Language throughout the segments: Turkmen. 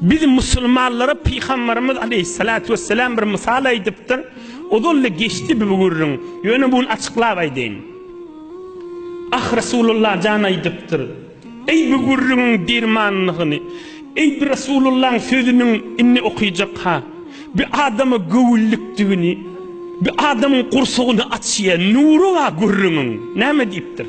Biz musulmanlara Pygambarymyz aleýhissalatu wessalam bir mysal aýdypdyr. Ozal-da geçdi bu gürrüň. Ýöne bu gün açyklap aýdaýyn. Ah Resulullah jan aýdypdyr. Eý bu gürrüňiň dermanlygyny, eý bu Resulullahyň sözüniň indi okyjak ha. Bu adama göwünlikdigini, bu adamyň gursagyny açýa, nury bar gürrüňiň. Näme diýipdir?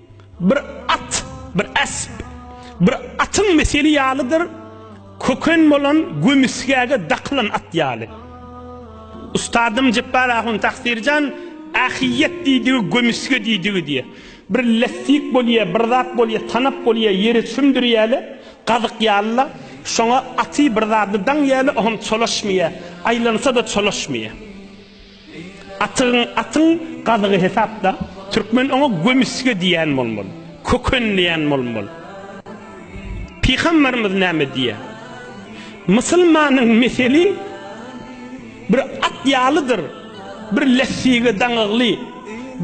Bir at, bir esp, bir atyň meseli ýalydyr, köken bolan gömüsgäge dakylan at ýaly. Ustadym Jepbar ahun Taksirjan Ähiyýet diýdigi gömüsge diýdigi diýe. Bir lessik bolýa, bir zat bolýa, tanap bolýa, ýere çümdürýäle, gazyk ýaly-la, şoňa aty bir zady daňýäle, o hem çolaşmaýa, aýlansa-da çolaşmaýa. Atygyň atyň gazygy hesapda. Türkmen oňa gömisge diýýän bolmaly. Köken diýýän bolmaly. Pygamberimiz näme diýýär? Musulmanyň meseli bir at ýalydyr, bir lessige daňygly,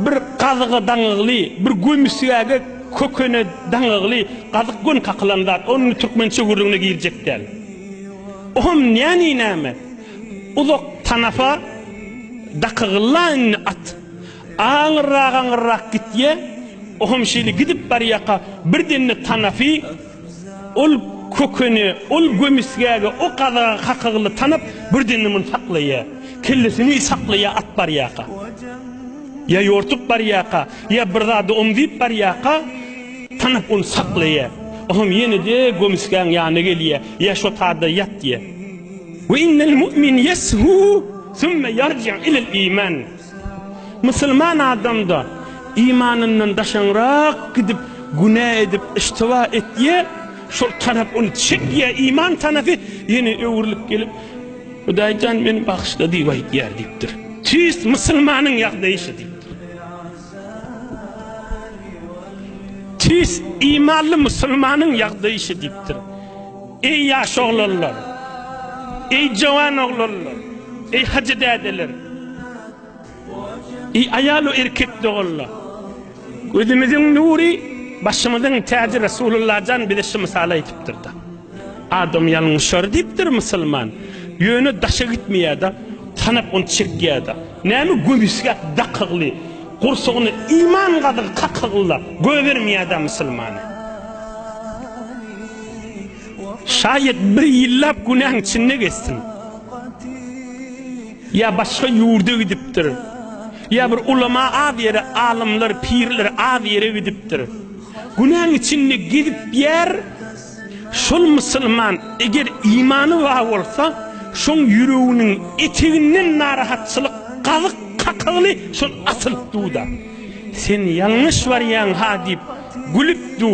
bir gazyga daňygly, bir gömisgäge, kökene daňygly. Gazyk göni kakylan zat, ony türkmen çöwürdigine girjek däl. Oňam näni näme? Uzak tanapa dakygylla indi at. Aňyrrak-aňyrrak gitýä. O hem şeýle gidip barýaka birden-de tanapy ol kökene, ol gömisgäge, o gazaga kakygylla tanap birden-de muny saklaýa. Kellesini saklaýa at barýaka. Ýa ýortup barýaka, ýa bir zada omzýyp barýaka tanap ony saklaýa. O hem ýene-de gömisgäň ýanyna gelýä, Ýa şo tada ýat diýä. Ve innel mu'min yeshû sümme yarci ilel iman. Musulman adamda imanyndan daşaňrak gidip günä edip iştiba etýä, şol tarap ony çekýä iman tanasy ýene öwrülip gelip Hudaýjan meni bagyşla diýip aýtýar diýipdir. Tüýs musulmanyň ýagdaýy şu diýipdir. Tüýs imanly musulmanyň ýagdaýy şu diýipdir. Eý ýaş oglanlar! Eý jowan oglanlar! Eý hajy dädeler! Eý aýal we erkek doganlar! Gözümiziň nury, başymyzyň täji Resulullahjan bize şu mysaly aýdypdyr-da, Adam ýalňyşar diýipdir musulman, ýöne daşa gitmeýär-de, tanap ony çekýär-de. Näme göbüsgäp dakygly, gursagyna iman gazygy kakygyla goýbermeýär-dä musulmany. Şaýat bir ýyllap günäň içinde geçsin. Ýa başga ýurda gidipdir. Ýa bir ulama az ýere, alymlar, pirler az ýere gidipdir. Günäň içinde gezip ýär. Şol musulman eger imany bar bolsa, şoň ýüreginiň eteginden narahatçylyk gazyk kakygly şol asylypduda. Sen ýalňyş barýaň-ha diýip gülüpdi.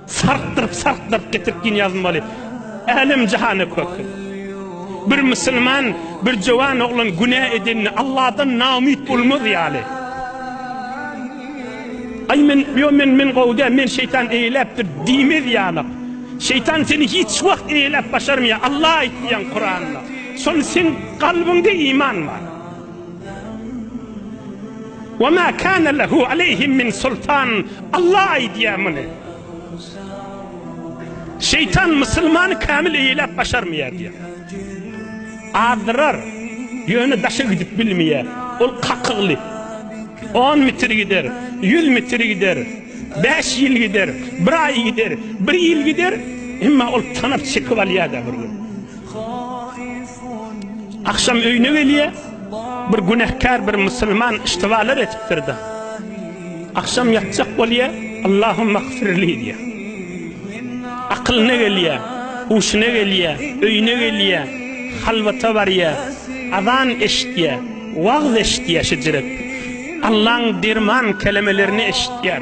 Sarkdyryp sarkdyryp getirip gin ýazmaly älem jahana kökün. Bir musulman bir jowan oglan günä edende Allahdan naumyt bolmaz ýaly. Aý men ýo men men gowy däl men şeýtan eýeläpdir diýmez ýaly. Şeýtan seni hiç wagt eýeläp başarmaýar Allah aýtýan Kuranda. Şony seň kalbyňda iman bar. Ve ma kana lehu aleyhim min sultan. Allah aýdýar muny. Şeytan musulmany kamil eýläp başarmaýar diýýär. Azdyrar. Ýöne daşa gidip bilmeýär. Ol kakygly. On mitir gider, ýüz mitir gider, bäş ýyl gider, bir aý gider, bir ýyl gider, emma ol tanap çekip alýar-da bir gün. Agşam öýüne gelýär, bir günäkär bir musulman yştybalar edipdir-de, agşam ýatjak bolýar, Allahumagfirli diýýär. Akylyna gelýär, huşuna gelýär, öýüne gelýär, halwata barýar, azan eşitýär, wagz eşitýär şejiret. Allaň derman kelemelerini eşitýär.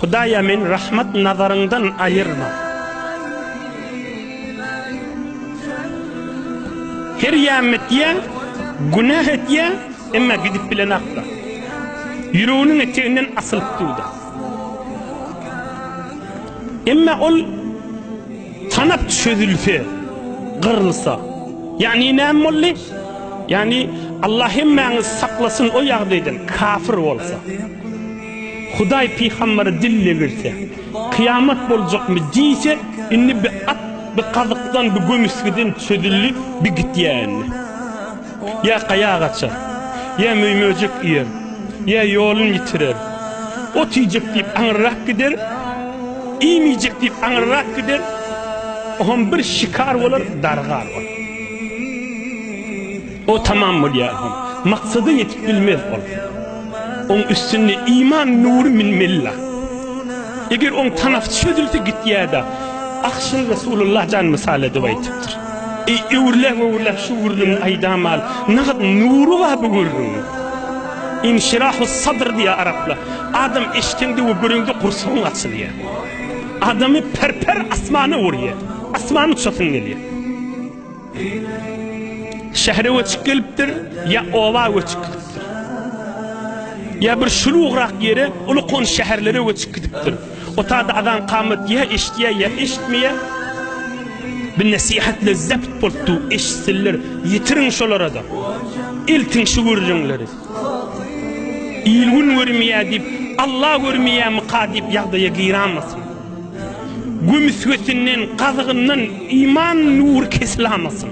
Hudaýa meni rahmat nazaryňdan aýyrma. Her ýamyny etýän, günah etýän, emma gidip bilen akla. Ýüreginiň eteginden asylyp dur-da. Emma ol tanap çözülse, gyrylsa. Ýagny näme boldy? Ýagny Allah hemmäňizi saklasyn o ýagdaýdan, kafir bolsa. Hudaý pygambere dille girse, Kyýamat boljakmy? diýse, indi bi at, bi gazykdan, bi gömüsgeden çözüldi, bi gitýär indi. Ýa gaýa gaçar, ýa möý-möjek iýer, ýa ýolun ýitirer. Ot iýjek diýip aňyrrak gider, iým iýjek diýip aňyrrak gider, o hem bir şikar bolar, dargar bolar. O tamam bolýar hom. Maksada ýetip bilmez ol. Oň üstünde iman nury minmella. Eger oň tanasy çözülse gitýäda. Ahşyny Resulullah jan mysal edip aýtypdyr. Eý öwürläň öwürläň şu gürrüňi aýdamal. Nagt nury bar bu gürrüňiň. Inşirahus sadr diýýär araplar. Adam eşdeňde we göreňde gursagyň açylýar. Adamy per-per asmana urýar. Asman uçasyn gelýär. Şähere göçüp gelipdir, ýa oba göçüp gidipdir. Ýa bir şulugrak ýere, uly-kony şäherlere göçüp gidipdir. Otagda azan-kamat ýa eşidýär, ýa eşitmeýär. Bir nesihatla zept bolupdyr, eşitsinler, ýetiriň şolara-da. Eltiň şu gürrüňleri. Il-gün görmeýär diýip, Alla görmeýärmika diýip ýagdaýa giräýmesin. Gömüsgesinden, gazygyndan iman nury kesiläýmesin.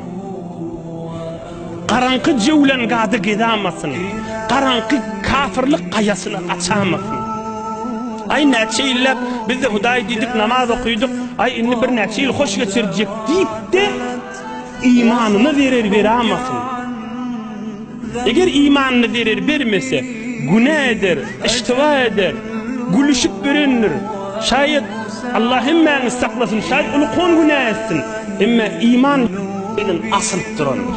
Garaňky jöwlangada gezäýmesin. Garaňky kafirlik gaýasyna gaçaýmasyn. Aý, näçe ýylläp biz-de Hudaý diýdik, namaz okydyk, aý, indi birnäçe ýyl hoş geçirjek diýip-de, Imanyna zerer beramasyn. Eger imanyna zerer bermese, günä eder, iştiba eder, gülüşip berendir. Şaýat Allah hemmäňi saklasyn, şaýat uly kon günä etsin. Emma iman bilen asylyp durandyr.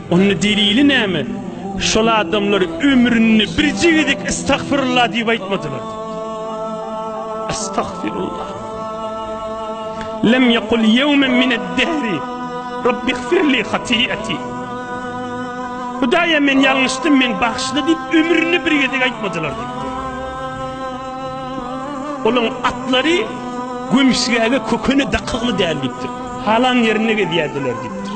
Onda delili näme? Şol adamlar ömründe birje gezek estagfirullah diýip aýtmadylar diýipdir. Estagfirullah. Lem yekul yevmen mined-dehri Rabbi gfirli hatiyati. Hudaýa men ýalňyşdym, men bagyşla diýip ömründe bir gezek aýtmadylar diýipdir. Olaň atlary gömüşgäge kökeni dakygly däl diýipdir. Halan ýerinde gezýärdiler diýipdir.